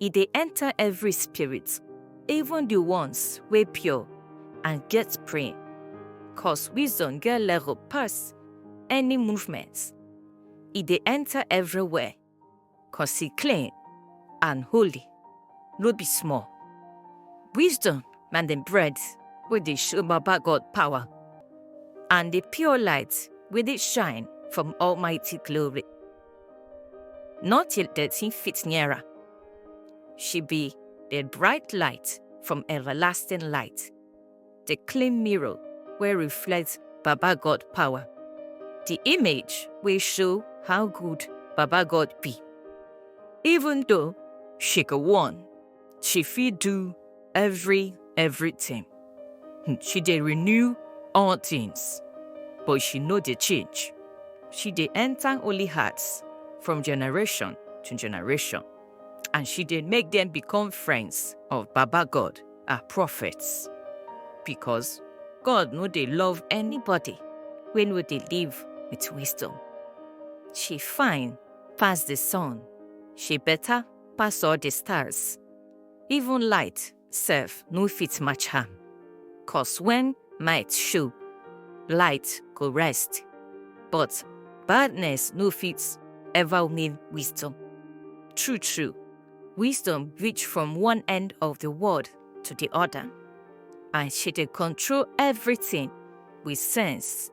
e dey enter every spirit, even the ones wey pure and get brain. Cause wisdom get level pass any movement. E dey enter everywhere, cause e clean and holy, no be small. Wisdom na the bread wey dey show Baba God power and the pure light wey dey shine from Almighty glory. Not till dirty fit near her. She be the bright light from everlasting light, the clean mirror wey reflect Baba God power, the image wey show how good Baba God be. Even though she go warn she fit do every everything. Hmm, she dey renew all things, but she no dey change. She dey enter holy hearts from generation to generation, and she dey make them become friends of Baba God, her prophets. Because God no dey love anybody wey no dey live with wisdom. She fine pass the sun. She better pass all the stars. Even light sef no fit match am. Cause when might show, light go rest. But badness no fit ever win wisdom. True, true, wisdom reach from one end of the world to the other, and she dey control everything with sense.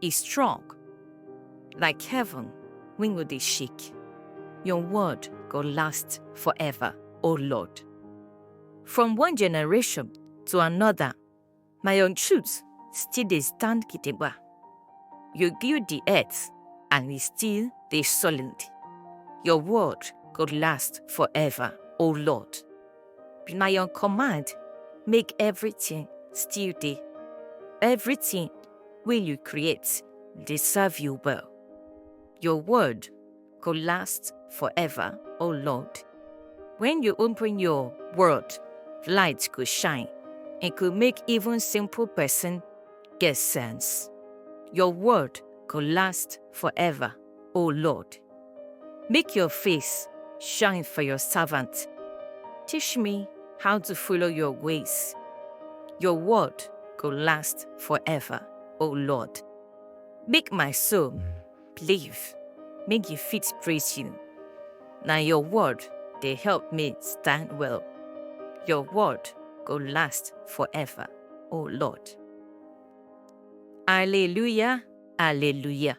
e strong like heaven wey no dey shake. Your word go last forever, O Lord. From one generation to another, na your truth still dey stand gidigba. You build the earth and e still dey solid. Your word go last forever, O Lord. Be na your command, make everything still dey. Everything wey you create dey serve you well. Your word go last forever, O Lord. When you open your word, light go shine. It go make even simple person get sense. Your word go last forever. O Lord. Make your face shine for your servant. Teach me how to follow your ways. Your word go last forever, O Lord. Make my soul live, make you fit praise you. Now your word they help me stand well. Your word go last forever, O Lord. Alleluia, Alleluia.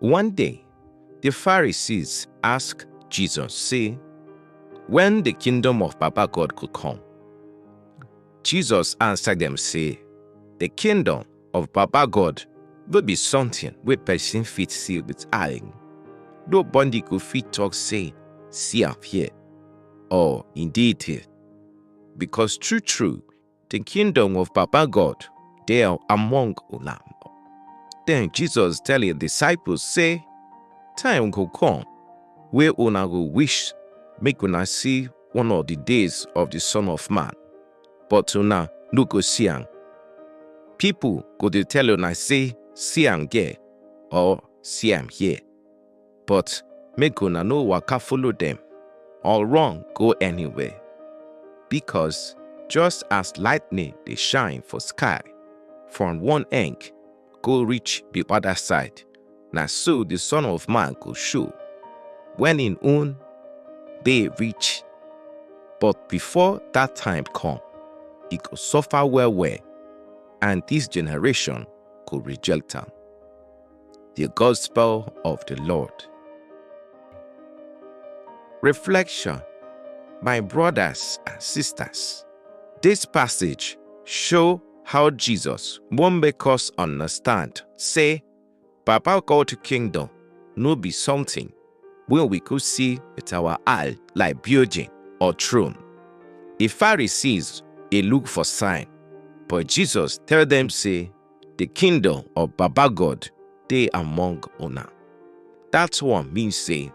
One day, the Pharisees ask Jesus say, When the kingdom of Papa God could come? Jesus answered them say, The kingdom of Papa God will be something wey person fit see with eye. Nobody go fit talk say, See am here, or indeed here. Because true true, The kingdom of Papa God dey among una. Then Jesus tell him disciples say, Time go come wey una go wish make una see one of the days of the Son of Man, but una no go see am. People go dey tell una say, See am there or see am here. but make una no waka follow dem or run go anywhere. Because just as lightning dey shine for sky from one end go reach the other side, na so the Son of Man go show when im own day reach. But before that time come, e go suffer well well, and this generation go reject am. The Gospel of the Lord. Reflection My brothers and sisters, this passage show how Jesus wan make us understand say Papa God kingdom no be something wey we go see with our eye like building or throne. The Pharisees dey look for sign, but Jesus tell them say the kingdom of baba god dey among una that one mean say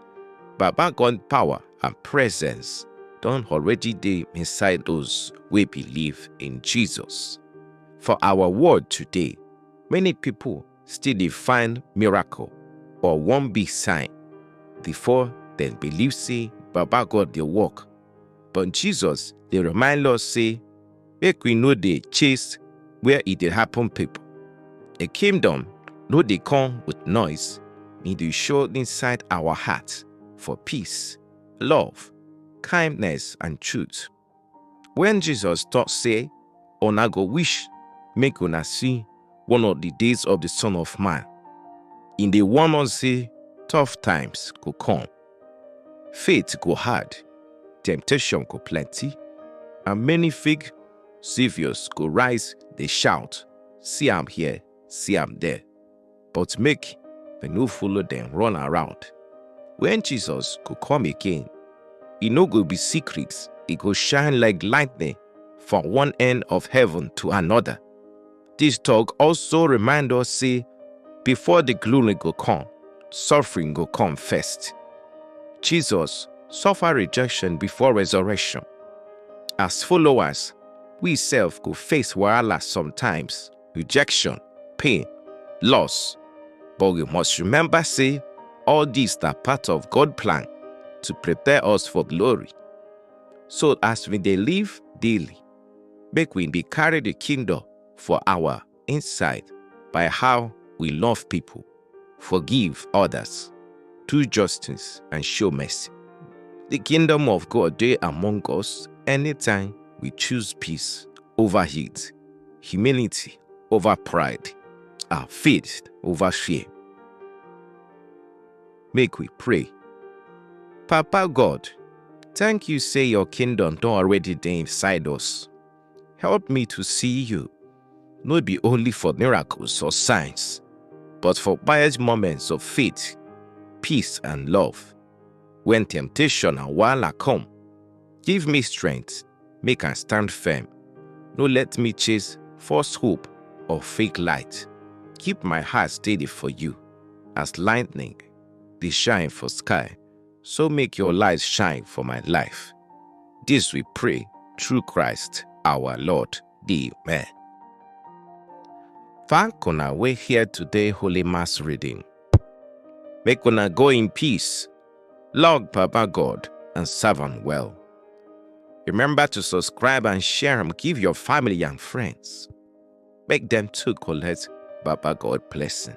baba god power and presence don already dey inside those wey believe in jesus for our world today many people still dey find miracle or one big sign before dem believe say baba god dey work but jesus dey remind us say make we no dey chase where e dey happen people. A kingdom no dey come with noise, e dey show inside our heart for peace, love, kindness and truth. When Jesus talk say, una go wish make una see one of the days of the Son of Man, e dey warn us say tough times go come. Faith go hard, temptation go plenty, and many fake saviors go rise dey shout, see am here, see am there. But make we no follow dem run around. When Jesus go come again, e no go be secret, e go shine like lightning from one end of heaven to another. Dis tok also remind us sey before di glory go come, suffering go come first. Jesus suffer rejection before resurrection. As followers, we sef go face wahala sometimes, rejection, pain, loss, but we must remember sey all dis na part of God plan to prepare us for glory. So as we dey live daily, Make we dey carry the kingdom for our inside by how we love people, forgive others, do justice, and show mercy. The kingdom of God dey among us anytime we choose peace over hate, humility over pride, and faith over fear. Make we pray. Papa God, thank you say your kingdom don already dey inside us. Help me to see you, no be only for miracles or signs, but for quiet moments of faith, peace, and love. When temptation and wahala come, give me strength make I stand firm. No let me chase false hope or fake light. Keep my heart steady for you as lightning dey shine for sky. So make your light shine for my life. This we pray through Christ our Lord. Amen. Thank una wey hear today Holy Mass reading. Make una go in peace. Log Papa God and serve am well. Remember to subscribe and share am give your family and friends. Make dem too collect Baba God blessing.